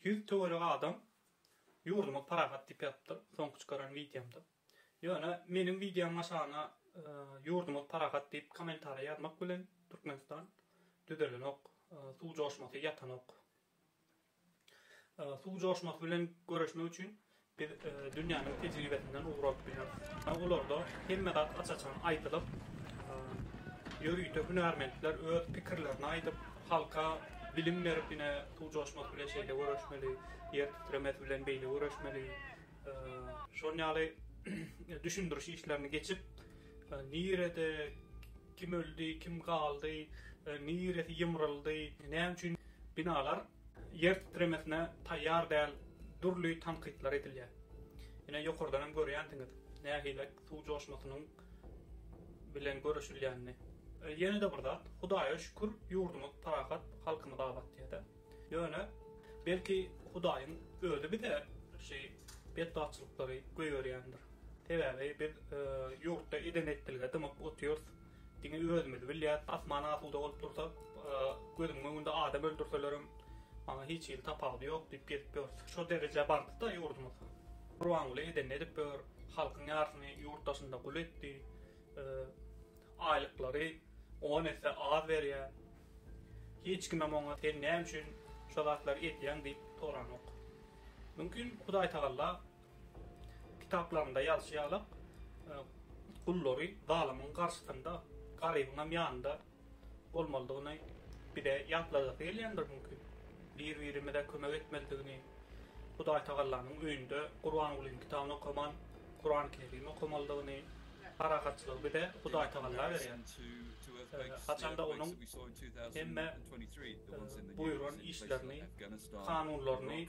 Ýüz töwerek adam ýurdumyz parahat diýip ýazypdyr soňky çykaran wideomda. Ýöne meniň wideomyň aşagyna ýurdumyz parahat diýip kommentariýa ýazmak bilen Türkmenistan düzelenok, suw joşmasy ýatanok. Suw joşmasy bilen göreşmek üçin Biz dünýäniň tejribesinden ugur alyp bileris. Olarda hemme zat aç-açan aýdylyp, ýörite hünärmentler öz pikirlerini aýdyp, halka bilim berip, ine, suw joşmasy bilen şeýle göreşmeli, ýer titremesi bilen beýle göreşmeli, şol ýaly düşündiriş işlerini geçip, nirede kim öldi, kim galdy, niresi ýymryldy, näme üçin binalar Ýer titremesine taýýar däl dürli tankytlar edilýär. Ine, ýokardan hem görýänsiňiz, nähili suw joşmasynyň bilen göreşilýänini. Ýene-de bir zat, Hudaýa şükür, ýurdumyz parahat, halkymyz abat diýýä-dä. Ýöne, belki, Hudaýyň Özi bize şu betbagtçylyklary goýberýändir. Sebäbi biz ýurtda eden-etdilige dymyp otyrys. Diňe özümiz bilýäs, asman asuda bolup dursa, gözümiň öňünde adam öldürselerem, maňa hiç hili tapawudy ýok diýip gezip ýörüs. Şo derejä bardy-da ýurdumyz. Gurbanguly edenini edip ýör, halkyň ýarysyny ýurt daşynda gul etdi, aýlyklary on esse az berýär. Hiç kimem oňa sen näme üçin şo zatlary edýäň diýip soranok. Mümkin Hudaýtagalla Kitaplarynda ýazyşy ýalak, gullary zalymyň garşysynda, garybyňam ýanynda bolmalydygyny bize ýatladasy gelýändir mümkin. Bir-birimize kömek etmelidigini, Hudaýtagallanyň öýünde Gurbangulynyň kitabyny okaman, Kurany-Kerim okamalydygyny, parahatçylygy bize Hudaýtagalla berýär. Haçanda onuň hemme buýran işlerini, kanunlaryny